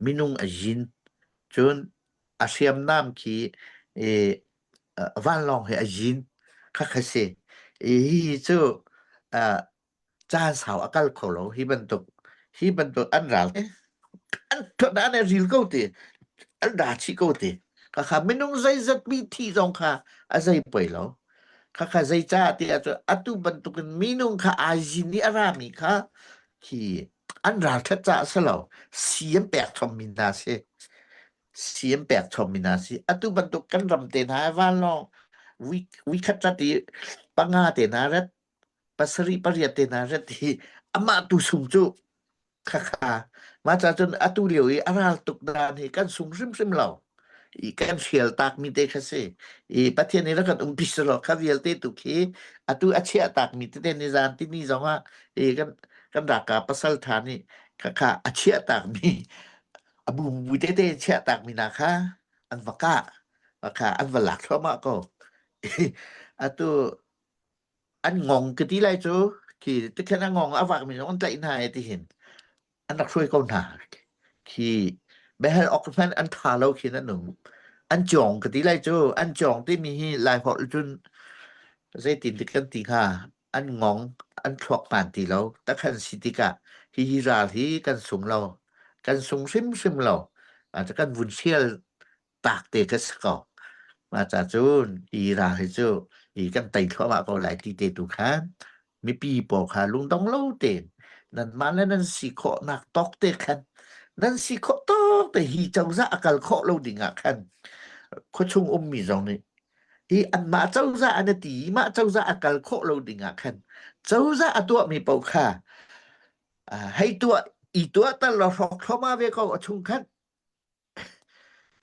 Minung a zin cun a hriamnam khi i vanlawng he a zin khak a si. I hihi cu uh, caan sau a kal kho lo hi bantuk hi bantuk an ral e an an e ril ko ti an da chih ko ti khakha minung zeizat mi thi zong kha a zei poi lo khakha zei ca ti ahcun atu bantukin minung kha ai zin i a rami kha khi an ralṭhat caah si lo si an pek chommi hna si si an pek chommi hna si atu bantuk kan ram te hna vanlawng week weekhat rat i panga te hna rat pasarih pariat te hna rat hi amah tu sung cu khakha mah cacun atu lio i a ral tuk dan hi kan sung hrimhrim lo I kan hrial takmi te kha si. I Pathian nih rak kan umpi selaw kha vialte tu khi atu a chiah takmi tete ni zan tini zongah i kan kan raka pasal tha nih khakha a chiah takmi a bumbu tete chiah takmi na kha an va kah kha an va lak thluahmah ko. Atu an ngong ka ti lai cu ki tikhan a ngong a vakmi zong an tlaih hna e tihin. an rak hruai ko hna khi biahal awk hmanh an tha lo khi an um an cawng ka ti lai cu an cawng timi hi lai holh cun zeitin dik kan ti hnga an ngong an thluak hman ti lo takhan si tikah hi hi ral hi kan sung lo kan sung hrimhrim lo kan vun sial taak te ka si ko. Mah cun ira hi cu hi kan tei thluahmah ko lai ti te tu khan mipi pawl kha lungdong lo tein nanmah le nan si khawhnak tawk te khan nan si khawh tawk te hi cozah a kal khawh lo ding ah khan khuachung ummi zong nih hi anmah cozah an i ti i mah cozah a kal khawh lo ding ah khan cozah a tuahmi paoh kha hei tuah i tuah tal lo hrawk thloma ve ko a chung khan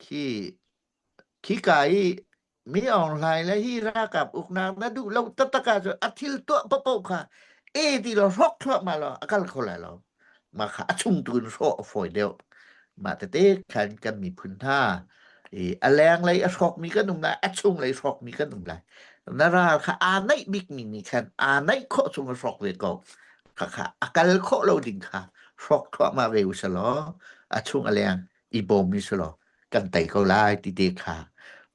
Khi khika i mi Aung Hlaing le hi ralkap uknak na duh lo taktak ahcun a thil tuah paohpaoh kha e ti lo hrawk thluahmah law a kal kho lai lo. Mah kha a chung tu in hrawh a fawi deuh. Mah tete khan kan miphun hna i a lenglei a hrawkmi kan um lai, a chunglei hrawkmi kan um lai. Na ral kha aa naih bikmi nih khan aa naih khawh chung a hrawk ve ko. khakha a kal khawh lo ding kha hrawk thluahmah ve u sih law a chung a leng i bawm u sih law kan tei ko lai ti te kha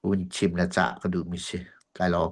hun chim le cah ka duhmi si. Kai lawm.